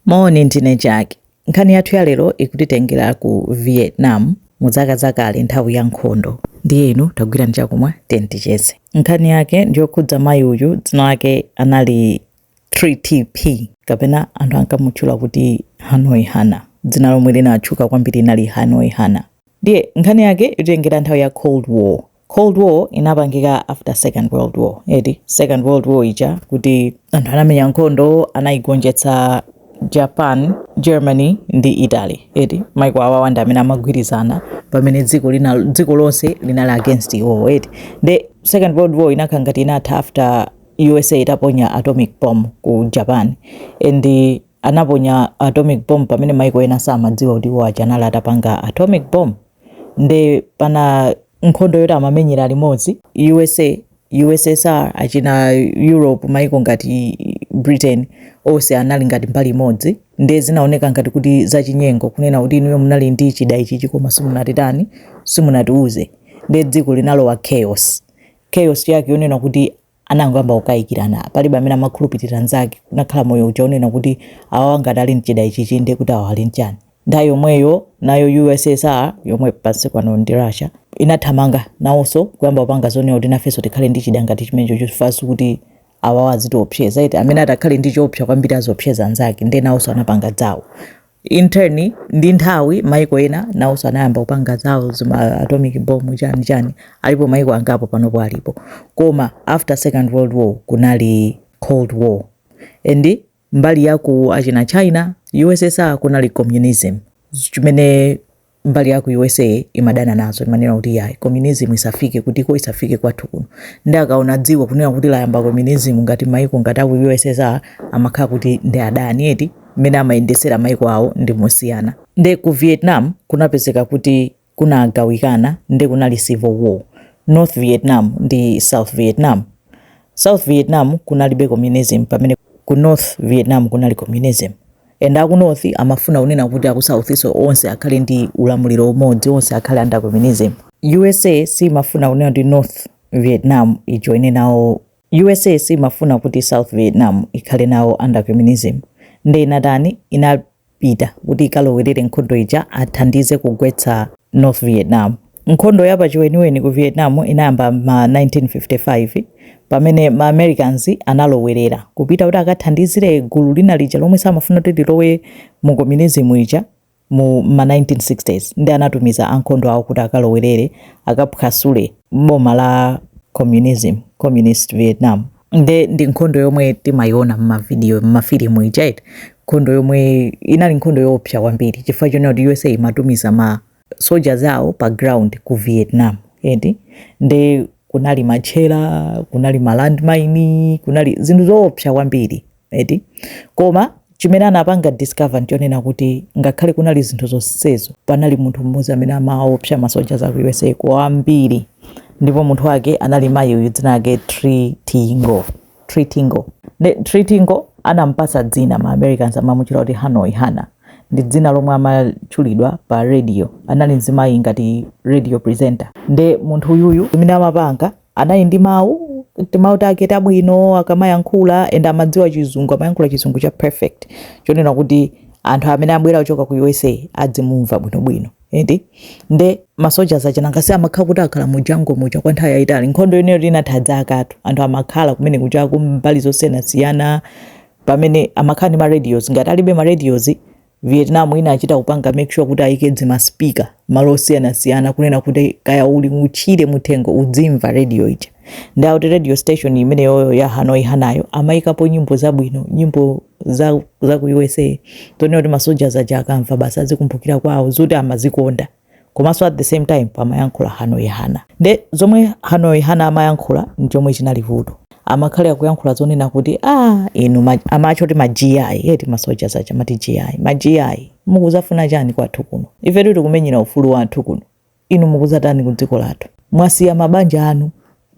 Moni, ndine Jack. Nkhani yathu ya lero ikutitengera ku Vietnam mu zaka zakale nthawi ya nkhondo. Ndiye inu tagwirani chakumwa tiyeni ticheze. Nkhani yake ndiyokhudza mayi uyu dzina lake anali Trinh Thi kapena anthu ankamutchula kuti Hanoi Hannah. Dzina lomwe linatchuka kwambiri inali Hanoi Hannah. Ndiye nkhani yake ikutitengera nthawi ya Cold War Cold war inapangika after second world war eti second world war ija kuti anthu anamenya nkhondo anayigonjetsa Japan, Germany ndi Italy eti maiko awawa ndi amene amagwirizana pamene dziko lonse linali against iwowo eti the second world war inakhala ngati inatha after USA itaponya atomic bomb ku Japan and the- anaponya atomic bomb pamene maiko ena samadziwa kuti iwo aja anali atapanga atomic bomb nde pa nkhondo yoti amamenyera limodzi usa ussr achina europe maiko ngati britain onse anali ngati mbali imodzi nde zinaoneka ngati kuti zachinyengo kunena kuti inuyo munali ndi chida ichichi koma simunatitani simunatiuze nde dziko linalowa chaos chaos yake yonena kuti anangoyamba kukayikirana palibe amene amakhulupirira nzake kunakhala moyo uja onena kuti awawa ngati ali nchida ichichi ndiye kuti awa ali nchani nthawi yomweyo nayo ussr yomwe pakalipano ndi russia inathamanga nawonso kuyamba kupanga zonena kuti nafenso tikhale ndi chida ngati chimenecho chofananso kuti awawa azitiopseza eti amene atakhale ndi choopsa kwambiri aziopseza anzake ndiye nawonso anapanga zawo in turn ndi nthawi maiko ena nawonso anayamba kupanga zawo zima atomic bomb chani chani alipo maiko angapo panopo alipo koma after second world war kunali cold war and mbali yaku achina china ussr kunali communism chimene mbali yaku usa imadana nazo imanena kuti yayi communism isafike kutiko isafike kwathu kuno nde akaona dziko kunena kuti layamba communism ngati maiko ngati aku ussr amakhala kuti ndi adani eti mmene amayendesera maiko awo ndi mosiyana nde ku vietnam kunapezeka kuti kunagawikana nde kunali civil war north vietnam ndi south vietnam south vietnam kunalibe communism pamene ku north vietnam kunali communism And aku north amafuna kunena kuti aku south nso onse akhale ndi ulamuliro umodzi onse akhale under communism usa simafuna kunena kuti north vietnam ijoine nawo usa simafuna kuti south vietnam ikhale nawo under communism nde inatani inapita kuti ikalowerere nkhondo ija athandize kugwetsa north vietnam Nkhondo ya pachiweniweni ku Vietnam inayamba m'ma 1955 pamene ma Americans analowerera, kupita kuti akathandizire gulu lina lija lomwe samafuna kuti lilowe mu Communism ija mu m'ma 1960's nde anatumiza ankhondo awo kuti akalowerere, akaphwasule boma la Communism, Communist Vietnam. Nde ndi nkhondo yomwe timayiona m'ma video, m'ma filimu zija eti, nkhondo yomwe inali nkhondo yoopsa kwambiri chifukwa chonena kuti USA imatumiza ma. soldiers awo pa ground ku Vietnam eti nde kunali matchera kunali malandmine kunali zinthu zoopsa kwambiri eti koma chimene anapanga discover nchonena kuti ngakhale kunali zinthu zonsezo panali munthu mmodzi amene amaopsa ma soldiers a ku USA kwambiri ndipo munthu wake anali mayi uyu dzina lake Tree Tingo Treatingle. Nde Treatingle anampatsa dzina ma Americans amamutchula kuti Hanoi Hannah. Ndi dzina lomwe amatchulidwa pa radio. Anali mzimayi ngati radio presenter. Nde munthu uyuyu zimene amapanga anali ndi mawu timawu take tabwino akamayankhula and amadziwa chizungu amayankhula chizungu cha perfect chonena kuti anthu amene abwera kuchoka ku USA adzimumva bwinobwino eti nde ma soldiers aja nanga si amakhala kuti akhala mu jungle muja kwa nthawi yayitali nkhondo imeneyo inatha zakatu anthu amakhala kumene kuja ku mbali zosiyanasiyana pamene amakhala ndi ma radios ngati alibe ma radios vietnam inachita kupanga make sure kuti ayike zima speaker malo osiyanasiyana kunena kuti kaya uli mutchire muthengo udzimva radio ija ndi akuti radio station imeneyoyo ya hanoi hanayo amayikapo nyimbo zabwino nyimbo za, za ku USA zonena kuti ma soldiers aja akamva basi azikumbukira kwawo zoti amazikonda komanso at the same time pamayankhula hanoi hana nde zomwe hanoi hana amayankhula nchomwe chinali vuto amakhala akuyankhula zonena kuti ah inu ma- amatchedwa kuti ma GI eti ma soldiers aja amati GI ma GI mukuzafuna chani kwathu kuno ifetu tikumenyera ufulu wathu kuno inu mukudzatani ku dziko lathu mwasiya mabanja anu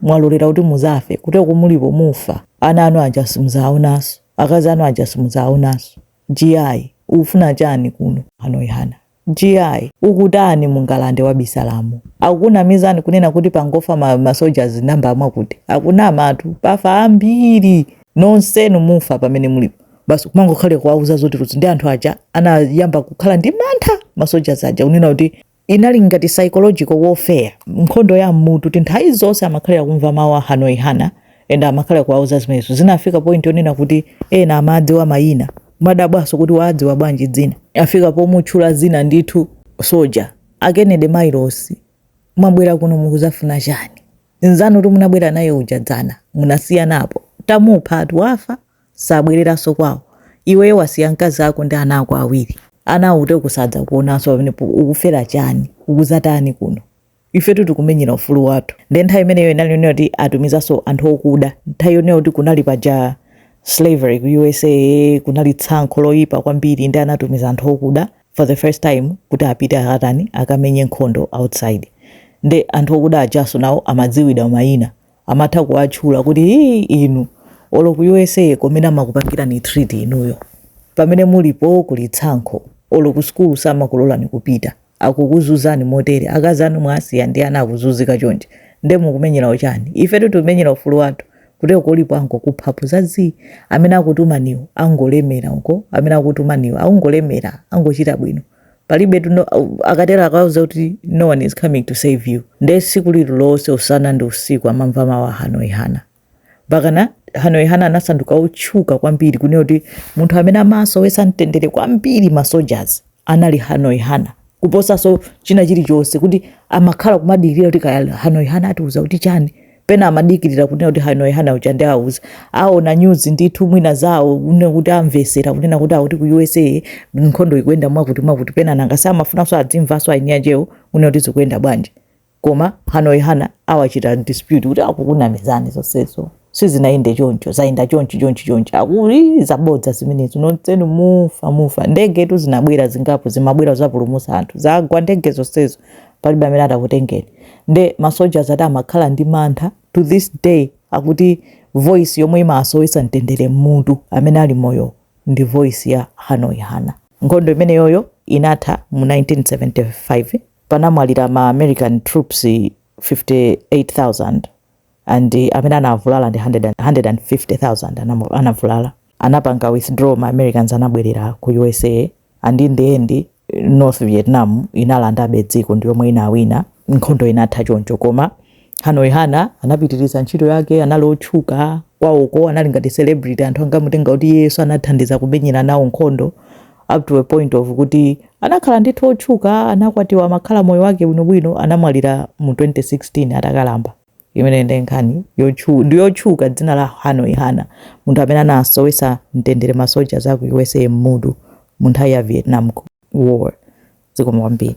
mwalolera kuti muzafe kuti komwe mulipo mufa ana anu aja simudzawaonanso akazi anu aja simudzawaonanso GI ukufuna chani kuno hanoi hana GI ukutani mu ngalande wabisalamo akukunamizani kunena kuti pangofa ma, ma soldiers namba mwakuti akunamatu pafa ambiri nonsenu mufa pamene mulipo basi kumangokhalira kuwauza zakutizakuti nde anthu aja anayamba kukhala ndi mantha masoja aja kunena kuti inali ngati psychological warfare nkhondo ya mmutu eti nthawi zonse amakhalira kumva mawu a hanoi hana and amakhalira kuwauza zimenezo zinafika point yonena kuti ena amadziwa mayina amadabwaso kuti waadziwa bwanji dzina afika pomutchula dzina ndithu soja a Kennedy Miles mwabwera kuno mukuzafuna chani nzanu wakuti munabwera naye uja dzana munasiyanapo tamupha ati wafa sabwereranso kwawo iweyo wasiya mkazi ako ndi ana ako awiri ana awo sadzakuonanso pamenepo ukufera chani ukuzatani kuno ifetu tikumenyera ufulu wathu nde nthawi imeneyo inali yonena kuti atumizanso anthu okuda nthawi yonena kuti kunali paja slavery ku usa kunali tsankho loyipa kwambiri nde anatumiza anthu okuda for the first time kuti apite akatani akamenye nkhondo outside nde anthu okuda ajaso nawo amadziwidwa mayina amatha kuwatchula kuti hii inu olo ku usa komene amakupangirani treat inuyo pamene mulipo kuli tsankho olo ku sukulu samakulolani kupita akukuzunzani motere akazi anu mwasiya ndi ana akuzunzika chonchi nde mukumenyerawo chani ifetu tikumenyera ufulu wathu kuteroko olipo angokuphapo za zii amene akutumaniwo akungolemera uko amene akutumaniwo akungolemera angochita bwino palibe akatero akauza kuti no one is coming to save you nde siku lililonse usana ndi usiku amamva mawu a hanoi hana mpakana hanoi hana anasanduka otchuka kwambiri kunena kuti munthu amene amasowetsa mtendere kwambiri masojazi anali hanoi hana kuposaso china chilichonse kuti amakhala kumadikirira kuti kaya hanoi hana atiuza kuti chani pena amadikirira kunena kuti hanoi hana uja ndiye awuza aona news ndithu mwina zawo kunena kuti amvesera kunena kuti akuti ku usa nkhondo ikuyenda mwakuti mwakuti pena nanga samafunanso azimvanso eni akewo kunena kuti zikuyenda bwanji koma hanoi hana awachita dispute kuti akukunamizani zonsezo sizinayende choncho zayenda chonchi chonchi chonchi akuti zabodza zimenezo nonsenu mufa mufa ndegetu zinabwera zingapo zimabwera kudzapulumutsa anthu zagwa ndege zonsezo palibe amene atakutengeni nde ma soldiers akuti amakhala ndi mantha to this day akuti voice yomwe imasowetsa mtendere mmutu amene ali moyo ndi voice ya hanoi hana nkhondo imeneyoyo inatha mu 1975 panamwalira ma american troops 58000 and amene anavulala ndi 100 150,000 anavulala anapanga withdraw ma Americans anabwerera ku USA and in the end North Vietnam inalandabe dziko ndi yomwe inawina nkhondo inatha choncho koma Hanoi Hana anapitiriza ntchito yake anali otchuka kwawoko anali ngati celebrity anthu ankamutenga kuti yes anathandiza kumenyera nawo nkhondo up to a point of kuti anakhala ndithu otchuka anakwatiwa amakhala moyo wake bwinobwino anamwalira mu 2016 atakalamba imene ndi nkhani yotchu- ndi yotchuka dzina la hanoi hana munthu amene anasowetsa mtendere masojazi a ku usa m'mutu mu nthawi ya vietnam war zikomo kwambiri